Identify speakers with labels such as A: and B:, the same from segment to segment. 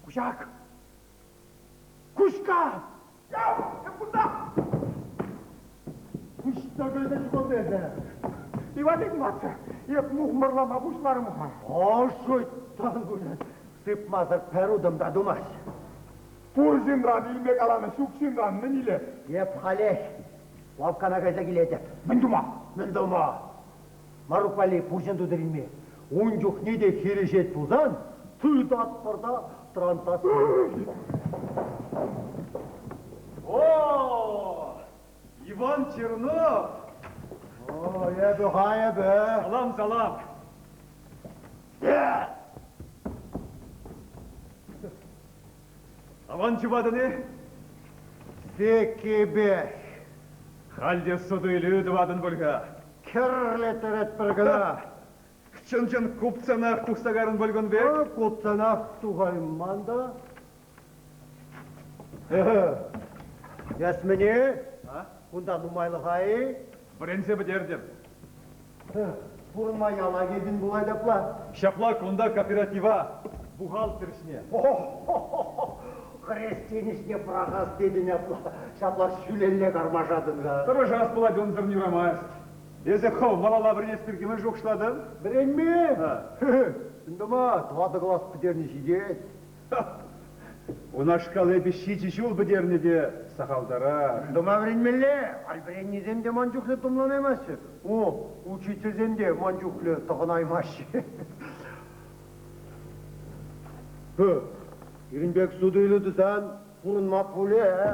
A: Кушак! Кушка! Куҫ тӑкӑлчӗ шкулта эсӗ. Иван Игнатьевич, эп мухмӑрлама пуҫларӑм-ха. Ӑшӑ тан пулӗ. Сыпмасӑр пӗр утӑм та тумасть. Пур ҫынран илме каланӑ, ҫук ҫынран мӗн илес? Эп халех лавккана кайса килетӗп. Мӗн тума? Мӗн тӑвма? Марук валли пурҫӑн тутӑр илме ун чухне те хирӗҫет пулсан. Тытатпӑр та трантасем. О-о! Иван Чернов! О, эпӗ ха эпӗ. Салам, салам! Аван ҫӑватӑн-и? Веккипех. Халь те суту-илӳ тӑватӑн пуль-ха. Кӗрле тӗретпӗр кӑна. Чӑн-чӑн купцанах тухса карӑн пуль кун пек? Купцанах тухайман та. Эсмӗне, кунта нумайлӑха-и? Вӗренсе пӗтертӗм. Пурӑнма яла килтӗн пулать апла? Ҫапла, кунта кооператива, бухгалтер ӗҫне. Хресчен ӗҫне пӑрахас тетӗн апла? Ҫапла ҫӳлелле кармашатӑн-ха. Тӑрӑшас пулать, унсӑрӑн юрамасть. Эсӗ хӑв малалла вӗренес пирки мӗн шухӑшлатӑн? Вӗренмен! Чӑн тума, тӑватӑ класс пӗтерни ҫитет. Унашкал эпӗ ҫичӗ ҫул пӗтернӗ те сахалтарах. Мӗн тума вӗренмелле? Вӗреннисем те ман чухлӗ тумланаймаҫҫӗ. О, учительсем те ман чухлӗ тӑхӑнаймаҫҫӗ. Пирӗн пек суту-илӳ тусан пурӑнма пулӗ, э?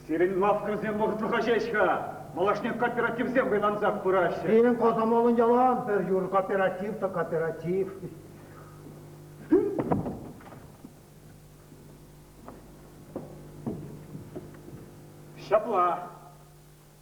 A: Сирӗн лавккасем вӑхӑтлӑха ҫеҫ-ха малашне кооперативсем хӑйлансах пыраҫҫӗ. Пирӗн кӑсӑмӑллӑн яла пӗр юр кооператив та кооператив. Ҫапла.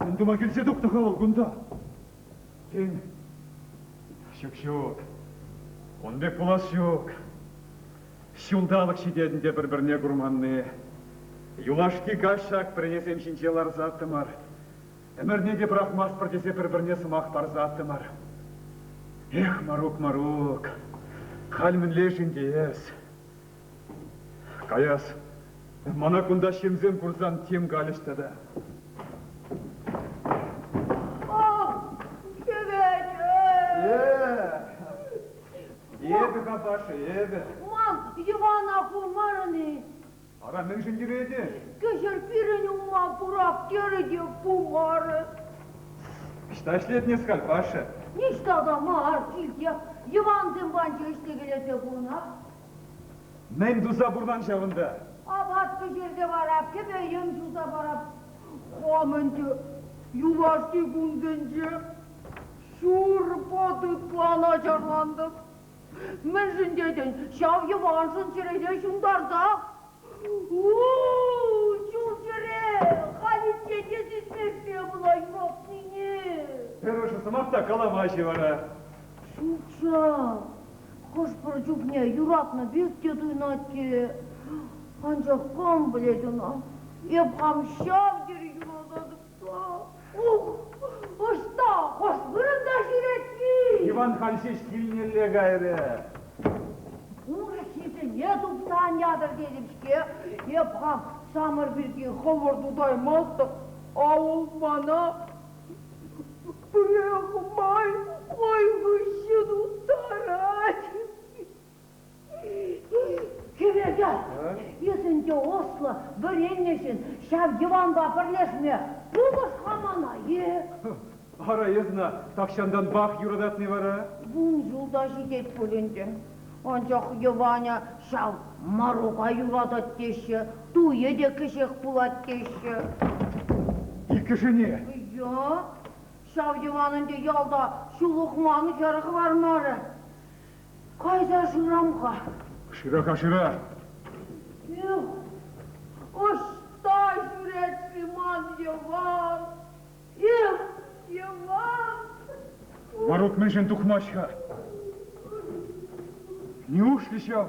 A: Мӗн тума килсе тухнӑ-ха вӑл кунта? Тен, ҫук ҫук, ун пек пулас ҫук. Ҫулталӑк ҫитетӗн те пӗр-пӗрне курманни. Юлашки каҫ ҫак пӗренесем ҫинче ларсаттӑмӑр. Ӗмӗрне те пӑрахмастпӑр тесе пӗр-пӗрне сӑмах парсаттӑмӑр. Эх, Марук, Марук, халь мӗнле-шин те эс? Каяс, мана кунта ҫынсем курсан тем калӗҫ тата. Эпӗ капаши, эпӗ. Ман Ивана хумарӑн-и? Ара, мӗншӗн йӗретӗн? Кӗҫӗр пирӗн ума курак терӗ те пумарӗ. Ӑҫта ӗҫлетӗн эскаль, паша? Ниҫта та мар, килте. Йӑвансем панчӑ ӗҫсе кӗлете пынӑ. Мӗн туса пурнан ҫавӑнта? Апат пӗҫерсе вара кӗпе-йӗм суса парап. Хам ӗнтӗ юлашки кун тӗнче ҫур пӑтӑкпа начарлантӑм. Мӗншӗн тетӗн, ҫав йӑваншӑн чӗресе ҫунтарса Ҫул-йӗре халь инкеке сисмешкӗн пулаймӑпнине. Пӗр ӑшӑ сӑмах та калама-ши вара? Ҫук-ҫа. Хӑш-пӗр чухне юратнӑ пек те туйӑнать-и, анчах кам пӗлет ӑна, эп хам ҫав тери юрататӑп. Ӑста, хӑш вырӑнта ҫӳрет-и? Иван халь ҫеҫ килнелле кайрӗ. Урӑххисене тупса ан ятӑр тетӗп-ҫке. Эп хам самӑр пирки хӑвӑр тутаймастӑп. Авӑл мана пӗрре хумай хӑй хыҫҫӑн уттарать. Хӗвелтан, эс ӗнтӗ ӑслӑ, вӗреннӗ ҫын, ҫав йӑванпа пӗрлешме пулӑш-ха мана-и? Ара, эсна тахҫантанпах юрататни вара? Вун ҫулта ҫитет пуль ӗнтӗ. Анчах йӑванӗ ҫав Марука юратать теҫҫӗ, туйӗ те кӗҫех пулать теҫҫӗ. Иккӗшӗне? Ия, ҫав йӑван ӗнтӗ ялта ҫул ухман хӗр хӑвармарӗ. Кайса шырам-ха. Шыраха шыра. Эх, ӑҫта ҫӳрет-ши ман Йӑван? Эх, Йӑван! Ворот мӗншӗн тухмасть-ха? Неужели ҫав?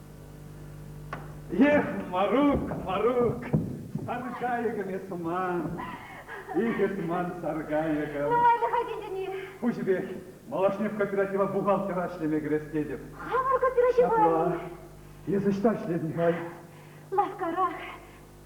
A: Эх, Марук, Марук, саркайӑкӑм эс туман. Икӗ туман саркайӑкӑм. Ай, тени. Пуҫӗпех малашне кооператива бухгалтера ӗҫлеме кӗрес тетӗп. Хамӑр кооператива. Ҫапла. Эс ӑҫта ӗҫлетӗн-ха? Лавккара.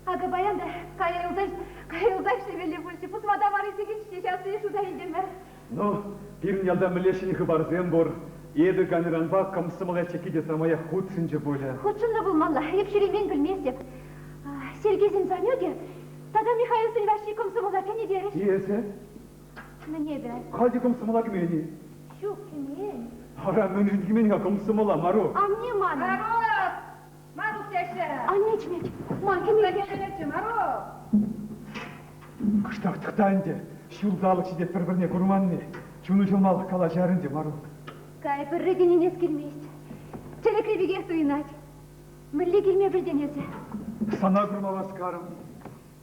A: Акӑ паян та каялса каялса ӗҫлемелли пулчӗ. Пусма та варри сикиччен ҫассине шута илтӗмӗр. Ну, пирӗн ялта мӗнле ҫӗнӗ хыпарсем пур? Эпӗ Ганьранпа комсомола чекки те самаях хутшӑнчӗ пулӗ. Хутшӑннӑ пулмалла, эп ҫӳремен пӗлместӗп. Сергейсен Санюкӗ тата Михаилсен Ваҫҫи комсомола кӗнӗ терӗҫ. Эсӗ? Мӗн эпӗ? Халь те комсомола кӗмен-и? Ҫук, кӗмен. Ара, мӗншӗн кӗмен-ха комсомола, Марук? Анне манӑн. Марук! Марук теҫҫӗ. Анне чӗнет. Ма килме килтеретчӗ, Марук? Кӑштах тӑхта ӗнтӗ, ҫурталӑк ҫитет пӗр-пӗрне курманни. Чуну ҫӑлмалӑх калаҫар ӗнтӗ, Марук. Кай, пӗрре те ӗненес килмест. Тӗлӗкри пекех туйӑнать. Мӗнле килме пӗлтӗн эсӗ? Сана курма васкарӑм.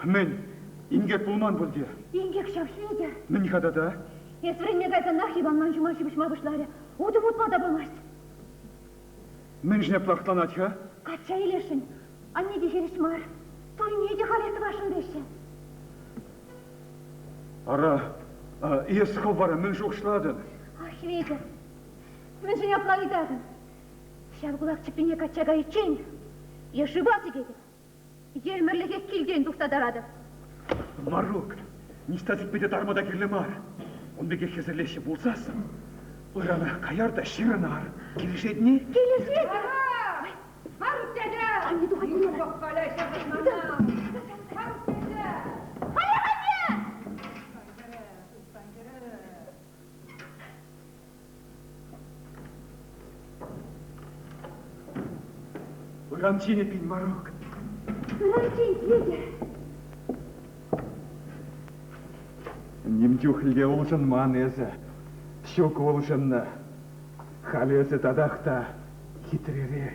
A: Хӗмен, инкек пулман пуль те? Инкек ҫав, Хветӗр. Мӗн-ха тата? Эс вӗренме кайсанах Иванман ҫума ҫыпӑҫма пуҫларӗ. Утӑм утма та пулмасть. Мӗншӗн ӑҫ лӑхтланать-ха? Качча илесшӗн. Анне те хирӗҫ мар. Турине те халех тӑвасшӑн теҫҫӗ. Ара, эс хӑв вара мӗн шухӑшлатӑн? Ах, Хветӗр, мӗншӗн апла ыйтатӑн? Ҫав кулак чӗппине качча кайиччен е шыва сикетӗп. Фермерлӗхе килтен тухса таратӑп. Марук, ниҫта типпе те тарма та кирлӗ мар. Ун пекех хӗсӗрлеҫҫӗ пулсассӑн, ырана каяр та ҫырӑнар. Килӗшет-ни? Килӗшет! Марук дядя! Анне тухать мана! Марук дядя! Кая, кая! Урам ҫине пин морок. Урам ҫин питӗ. Ним чухлӗ улшӑнман эсӗ. Ҫук улшӑннӑ. Халь эсӗ татах та хитререх.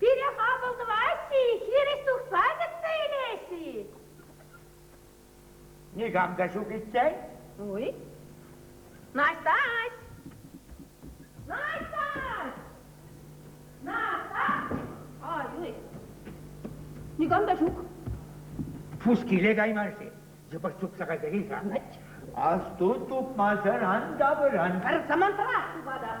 A: Пире хапӑл тӑваҫҫӗ-и, хирӗҫ тухса кӗтсе илеҫҫӗ-и? Никам та ҫук иккен. Ой. Наҫтаҫ! Наҫтаҫ! Наҫтаҫ! Ай-ой. Никам та ҫук. Пус киле кайман-ши? Йӑпӑх чупса кайсӑр-и-ха? Асту, чупмасӑран тавӑран. Пӗр самантрах чупатӑп.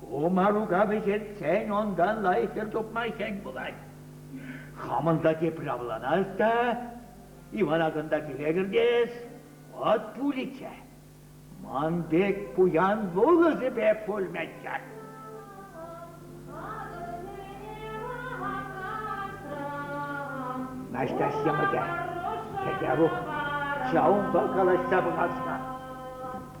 A: Ку марука вӗҫертсен унтан лайӑххӗр тупма хӗн пулать. Хамӑн та тепре авланас та, Ивана кунта киле кӗртес, вӑт пулӗччӗ. Ман пек пуян вулӑсӗпе пулмӗччӗ. Наҫтаҫ йӑмӑкӗ, Кӗтерук, ҫавӑнпа калаҫса пымастна.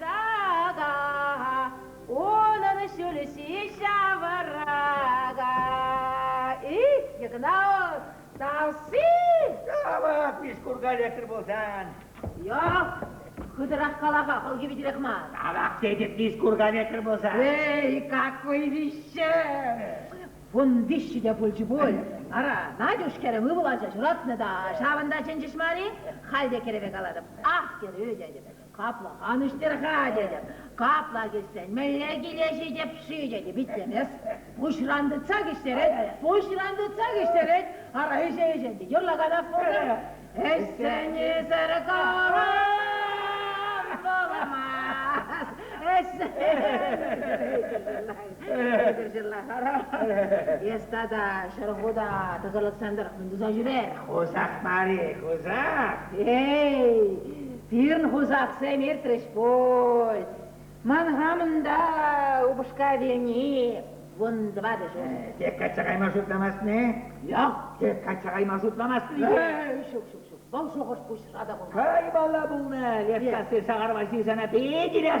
A: Та-да, унӑн ҫулҫи ҫаврака. И, Игнатов, Тарси! Явап, Мишкурка электр пулсан. Yok, хытӑрах кала-ха, хӑлхи витӗрех мар. Тавах тетӗп Мишкурка электр пулсан. Эй, как вӑйвиҫҫе! Вун виҫҫӗ те пулчӗ пуль. Ара, Надюш хӗрӗм ывӑл ача ҫуратнӑ та, ҫавӑнта чӗнчӗҫ мар-и? Халь те кӗрӗве калатӑп. Ах, кӗрӳ тетӗп. Капла канӑҫтӑр-ха тетӗп, капла кӗтсен мӗнле киле ҫитӗп-ши тетӗп итлемест. Пуҫран тытса кӗҫтерет, пуҫран тытса кӗҫтерет, ара ӗҫе-ӗҫе те юрлаканах пултӑр. Ӗҫсенисӗр калам пуламас, эс тата Ҫӗрхута тӑсӑрлӑхсем тӑрӑх мӗн туса ҫӳрер? Хусах мар-и, хусах? Эй, Пирӗн хусахсем иртрӗҫ пуль. Ман хамӑн та упӑшка вилни вун тӑватӑҫӗ. Тек качча кайма шутламасть-не? Yak, тек качча кайма шутламасть-и? Ҫук, ҫук, ҫук, вӑл шухӑш пуҫра та пулмасть. Каймалла пулнӑ, Левкасси Сахарова сирсана питӗ ирех.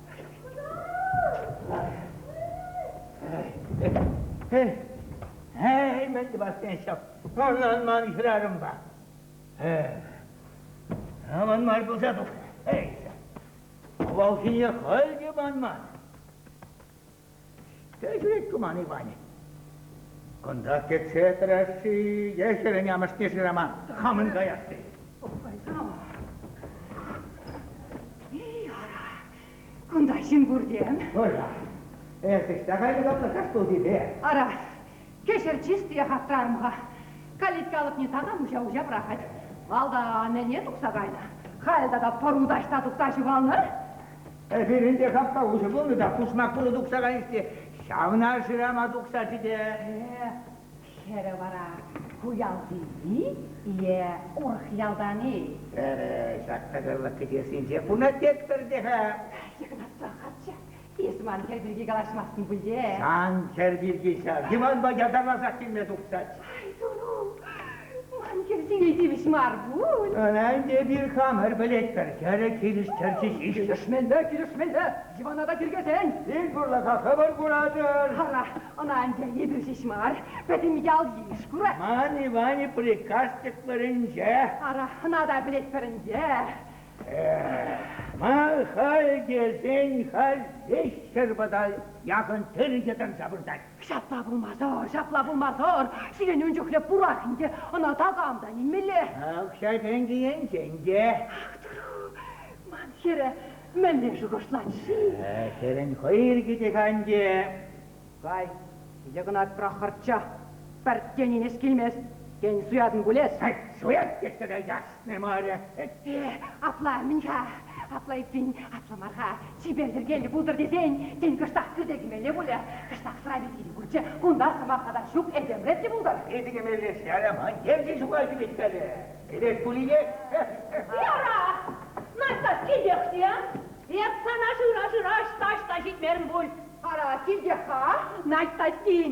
A: Эй, мӗн тӑвассен ҫав, ӑнлан ман хӗрарӑмпа. Аман мар пулса тухрӗ. Эй, авалхине халь те манман. Кӗҫех Туман Иванӗ. Кунта кӗтсе тӑрасси е хӗрӗн амӑшне шырама хамӑн каясси. Ой, кама? Эй, ара, кунта ҫын пуртем. Ырра, эсӗ ҫта кайнӑ та студипе. Ара, кӗҫӗр чистиех аптӑрарӑм-ха. Калитка алӑкне такам уҫа-уҫа пӑрахать. Малтан ӗне тухса кайнӑ, халь тата пӑру таҫта тухса ҫухалнӑ. Эпир ӗнтӗ хапха уҫӑ пулнӑ та пусмак пулӑ тухса кайнӑ те ҫавна шырама тухсаччӗ те. Хӗрӗ вара куялти-и е урӑх ялтан-и? Эпӗ ҫак кӑсӑрлӑх кӗтессинче куна тетпӗр те-ха. Игнатса каччӑ, эс ман хӗр пирки калаҫмастӑн пуль те? Сан хӗр пирки ҫав Диманпа ятарласах килме тухсаччӗ. Ай, Туру! Ман хӗрсене тивӗҫ мар пуль. Ӗнтӗ эпир хамӑр пӗлетпӗр, тӗрӗк хирӗҫтерчӗ ҫеҫ. Килӗшменде, килӗшменде, дивана та тиркесен. Ил пурлӑха хӑвӑр куратӑр. Ара, ӑна ӗнтӗ эпир ҫеҫ мар, пӗтӗм ял-йыш курать. Ман Иванӗ приказ-тӗк вӗренчӗ. Ара, ӑна та пӗлетпӗр ӗнтӗ. Эх, ма халь тесен халь веҫ ҫӗр пӑта яхӑн тӗрӗ те тӑрса выртать. Ҫапла пулмасӑр, ҫапла пулмасӑр. Сирӗн ун чухлӗ пурах ӗнтӗ, ӑна такам та нимелле. Укҫа-тенкӗ енчен те. Ах, тӑру, ман хӗрӗ мӗнле шухӑшлать-ши? Сирӗн хӑй ирӗкӗтех анчӗ. Кай, Йӑкӑнат Прохорча, пӗр тенӗ-нес килмест, тен, суятӑн пулес? Суят тесе тӑйас! Мемарӗ. Ытти апла мӗн-ха? Апла иккен, апла мар-ха. Чипер йӗркеллӗ пултӑр тесен, тен, кӑштах кӳрте кӗмелле пулӗ? Кӑштах сӑрапи тирӗ пулчӗ. Кунта сӑмах-хатар ҫук, этемлет те пултӑр. Питӗ кӗмелле-ши Аламан? Тем те ҫука ҫӳрет-кале. Кӗрет пулинех. Ара, Настя, килтех-ши? Эп сана шыра-шыра ӑҫта-ӑҫта ҫитмерӗм пуль. Ара, килтех-ха, Настя тин.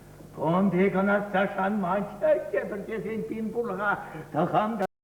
A: Кун пек ӑнасса шанмасть-ҫке пӗр тесен пин пурлӑха тӑхам та.